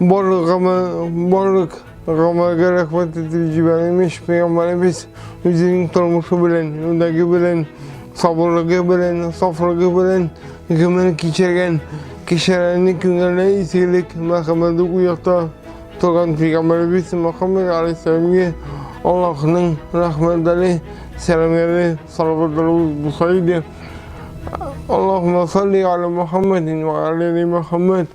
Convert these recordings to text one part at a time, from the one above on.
Барлыгыма барлык гамәлгә рәхмәт итеп җибәрәм ич пәйгамбәребез үзенең тормышы белән, үндәге белән, сабырлыгы белән, сафлыгы белән гомер кичергән кешеләрне күңелле изгелек, мәрхәмәт уята торган пәйгамбәребез Мөхәммәд алейһиссәламгә Аллаһның рәхмәтләре, сәламнәре, салаватлары булса иде. Аллаһумма салли аля Мөхәммәдин ва аля Мөхәммәд.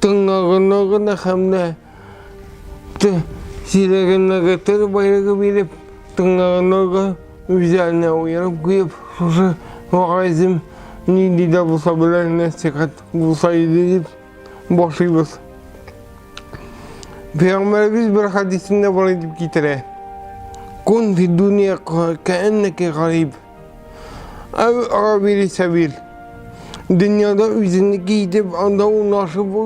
Тыңнагыннагына һәм дә сирәгеннәге тел байлыгы биреп, тыңнагыннага үзләренә уелып куеп, шушы вагайзым нинди дә булса белән нәсихәт булса иде дип башлыйбыз. Пәйгамбәребез бер хәдисендә болай дип китерә. Кун фи дуния кәәннәке гариб. Әй, Равил Исәвил, дөньяда үзенеке итеп, анда урнашып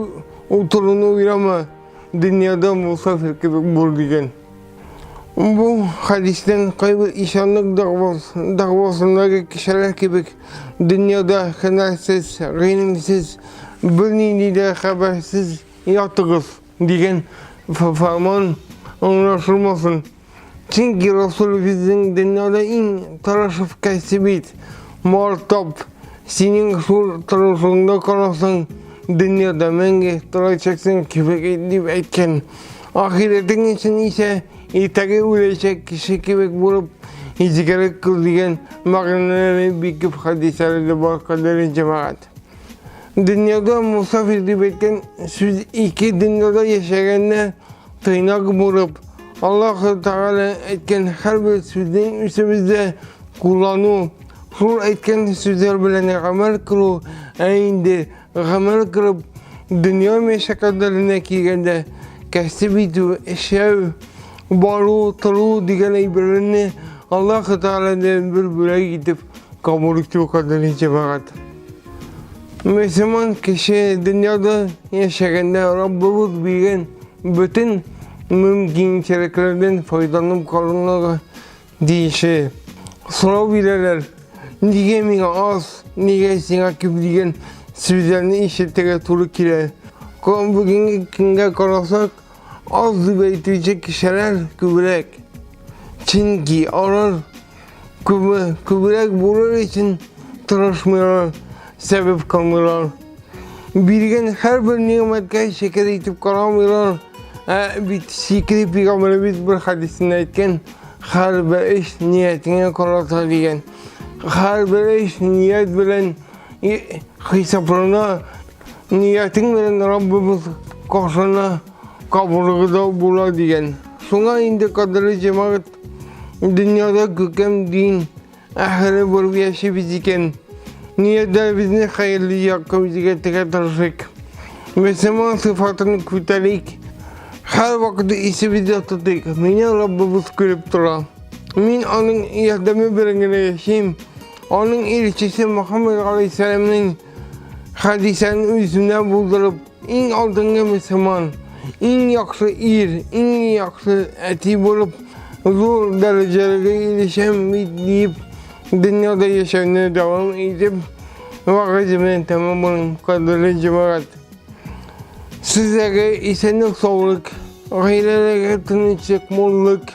утыруны уйлама, дөньяда мусафир кебек бул дигән. Бу хәдистән кайбер ишанлык дәгъвасындагы кешеләр кебек дөньяда хәнәрсез, гыйлемсез, бернинди дә хәбәрсез ятыгыз. Дигән фарман аңлашылмасын. Чөнки Расул безнең дөньяда иң тырышып кәсе бит. Мартап, синең шул тырышыңда карасаң, дөньяда мәңге торачаксың кебек дип әйткән. Ахиретең өчен исә иртәгә үләчәк кеше кебек булып изгерек күзлегән мәгънәләре бик күп хәдисләрдә бар кадәр җәмәгать. Дөньяга мусафир дип әйткән сүз ике дөньяда яшәгәнне тыйнак булып, Аллаһ Тәгалә әйткән һәрбер сүзнең үсебездә куллану, шул әйткән сүзләр белән гамәл кылу, ә инде гамәл кылып, дөнья мәшәкатьләренә килгәндә кәсеп итү, эшләү, бару, тору дигән әйберләрне Аллаһ Тәгаләдән бер бүләк итеп кабул итү кадәр җибәрәт. Мөселман кеше дөньяда яшәгәндә Раббыбыз биргән бөтен мөмкинчелекләрдән файдаланып калырга тиеше. Сорау бирәләр, нигә миңа аз, нигә сиңа күп дигән сүзләрне ишетергә туры килә. Бүгенге көнгә карасак, аз дип әйтүче кешеләр күбрәк. Чөнки алар Күбе, күбрәк булыр өчен тырышмыйлар, сәбәп кылмыйлар. Биргән һәрбер нигъмәткә шөкер итеп карамыйлар. Ә бит шикри пигамбәребез бер хадисендә әйткән, һәрбер эш ниятеңә карата дигән. Һәрбер эш ният белән хисаплана, ниятең белән Раббыбыз каршына кабулыгыда була дигән. Шуңа инде кадерле җәмәгать Дөньяда күкем дин әһеле булып яшибез икән. Ниятебезне хәерле якка үзгәртергә тырышыйк. Мөселман сыйфатын күтәрик. Һәр вакыт исебездә тотыйк. Мине Раббыбыз күреп тора. Мин аның ярдәме белән генә яшим. Аның илчесе Мөхәммәд алейһиссәламнең Хәдисәне үзенә булдырып, иң алдынгы мөселман, иң яхшы ир, иң яхшы әти булып, зур дәрәҗәләргә ирешәм бит дип, дөньяда яшәүне дәвам итеп, вагыйз белән тәмамлыйм, кадерле җәмәгать. Сезгә исәнлек-саулык, гаиләләргә тынычлык, муллык,